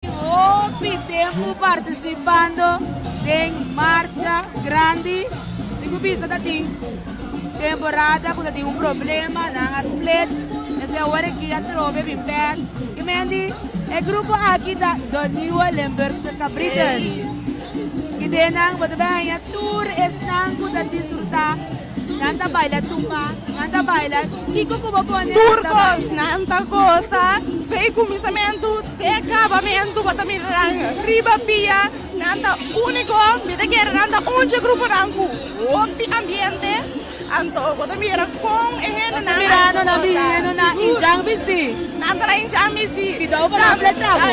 Hopi tempu partisipando den marcha grandi. Tin ku bisa ta tin temporada ku ta tin un problema, nan a splits. Esei awor e ki atrobe bin bèk. Ke men di, E grupo aki ta De Nieuwe Limburgse Cabrieten. Kidé nan bo ta bai haña tur esnan ku ta disfrutá Nan ta baila tumba, nan ta baila, kiko ku bo pone nan ta baila. Turcos nan ta gosa dei kuminsamentu te akabamentu bo ta mira nan riba pia, nan ta úniko, mi ta kere nan ta un dje gruponan ku hopi ambiente, anto bo ta mira kon e hendenan a yega gosa. Nan ta mira nan hendo nan hinchang bisti. Nan ta hinchang bisti. Kidau pa nan fletraku.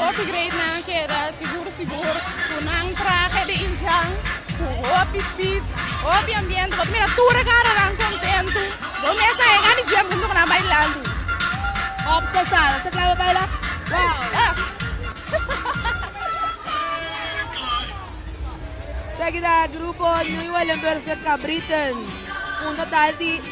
Hopi greatnan keda sigur sigur ku nan trahe di Inchang ku hopi speed, hopi ambiente, bo ta mira tur e karonan kontentu, bo mes a yega di dje punto ku nan bailando. Hopi special, ta kla bo baila? Wow! Esaki ta grupo New Hollanders de Cabritten, un total di.